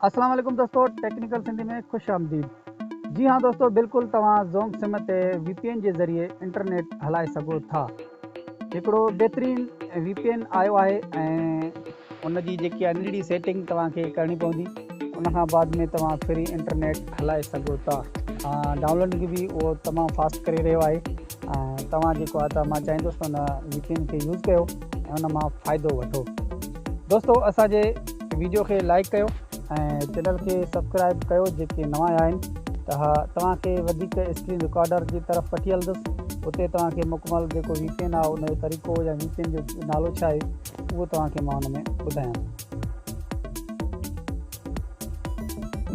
اسلام عليڪم دوستو ٽيڪنيڪل سنڌي ۾ خوش آمديد جي ھا دوستو بلڪل توھان زونگ سم تي وي پي اين جي ذريعي انٽرنيٽ ھلائي سگھو ٿا هڪڙو بهترين وي پي اين آيو آهي ۽ ان جي جيڪي آهي ننڍڙي سيٽنگ توهان کي ڪرڻي پوندي ان کان بعد ۾ توهان فري انٽرنيٽ هلائي سگهو ٿا ڊائونلوڊ کي به اهو تمام فاسٽ ڪري رهيو آهي ۽ توهان جيڪو آهي ته مان چاهيندس ان وي پي اين کي يوز ڪيو ۽ ان مان فائدو وٺو دوستو اسان جي ويڊيو کي لائڪ ڪيو ۽ چينل کي سبسڪرائب ڪيو جيڪي نوان آيا آهن ته اها توهان کي وڌيڪ اسڪرين رڪارڊر جي طرف وٺي هلندس اتي توهان کي مڪمل جيڪو وي پي اين آهي ان جو طريقو يا وي پي اين جو نالو ڇا آهي اهو توهان کي مان ان ۾ ٻڌايان ٿو.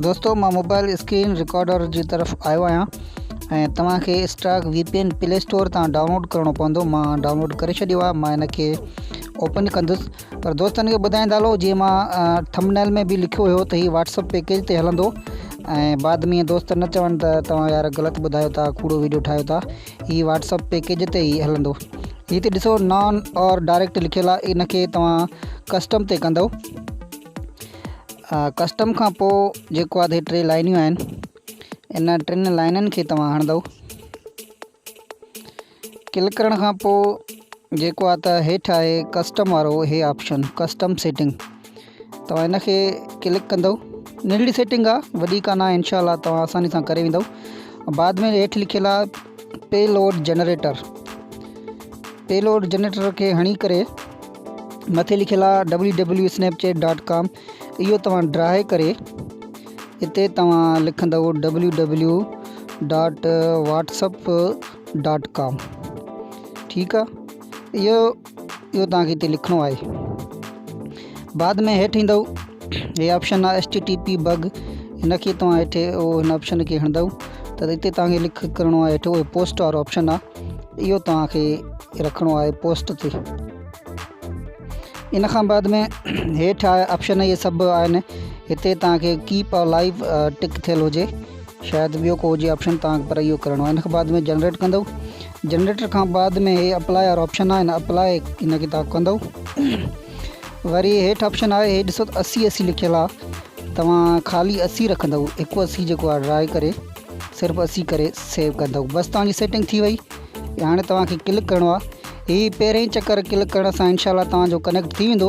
دوستو مان موبائل اسڪرين رڪارڊر جي طرف آيو آهيان ۽ توهان کي stock V P N play store تان ڊائونلوڊ ڪرڻو پوندو مان ڊائونلوڊ ڪري ڇڏيو آهي مان ان کي اوپن ڪندس پر دوستن کي ٻڌائيندا هلو جيئن مان ٿمبنيل ۾ به لکيو هيو ته هي واٽس اپ پيڪيج تي هلندو ۽ بعد ۾ دوست نه چون ته توهان يار غلط ٻڌايو ٿا ڪوڙو ويڊيو ٺاهيو ٿا هي واٽس اپ پيڪيج تي ئي هلندو هتي ڏسو نان اور ڊائريڪٽ لکيل آهي ان کي توهان ڪسٽم تي ڪندو ڪسٽم کان پوء جيڪو آهي ٽي لائنيون آهن ان ٽن لائنن کي توهان هڻندو ڪلڪ ڪرڻ کان پوء جيڪو آ ته هيٺ آهي ڪسٽم وارو هي آپشن ڪسٽم سيٽنگ توهان ان کي ڪلڪ ڪندو ننڍڙي سيٽنگ آ وڏي ڪانا ان شاء الله توهان آساني سان ڪري ويندو بعد ۾ هيٺ لکيل آ payload generator payload generator کي هڻي ڪري مٿي لکيل آ W W Snapchat dot com اهو توهان ڊرائي ڪري هتي توهان لکندو W W dot WhatsApp dot com ٺيڪ آ اهو اهو توهان کي هتي لکڻو آهي بعد ۾ هيٺ ايندو هي آپشن آ S T T P bug هن کي توهان هيٺ اهو هن آپشن کي هڻندو ته هتي توهان کي لک ڪرڻو آهي هيٺ اهو پوسٽ وارو آپشن آ اهو توهان کي رکڻو آهي پوسٽ تي ان کان بعد ۾ هيٺ آپشن اهي سڀ آهن هتي توهان کي ڪيپ لائف ٽڪ ٿيل هجي شايد ٻيو ڪو هجي آپشن توهان کي پر اهو ڪرڻو آهي ان کان بعد ۾ جنريٽ ڪندو جنريٽر کان بعد ۾ هي اپلائي وارو آپشن آهي هن اپلائي ان کي توهان ڪندو وري هيٺ آپشن آهي هي ڏسو اسي اسي لکيل آهي توهان خالي اسي رکندو هڪ اسي جيڪو آهي ڊرائي ڪري صرف اسي ڪري سيو ڪندو بس توهان جي سيٽنگ ٿي وئي هاڻي توهان کي ڪلڪ ڪرڻو آهي هي پهرين چڪر ڪلڪ ڪرڻ سان انشاء الله توهان جو ڪنيڪٽ ٿي ويندو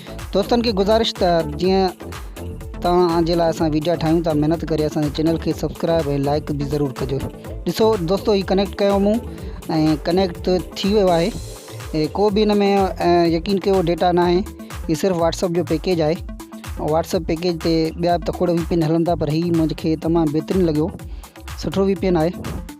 دوستن کي گذارش ته جيئن توهان جي لاء اسان وڊيا ٺاهيون ٿا محنت ڪري اسان جي چينل کي سبسڪرائب ۽ لائڪ به ضرور ڪجو ڏسو دوستو هي ڪنيڪٽ ڪيو مون ۽ ڪنيڪٽ ته ٿي ويو آهي ڪو به ان ۾ يقين ڪيو ڊيٽا نه آهي هي صرف واتسپ جو پيڪيج آهي واتسپ پيڪيج تي ٻيا تکوڙ وي پي ان هلن ٿا پر هي مون کي تمام بهترين لڳيو سٺو وي پي ان آهي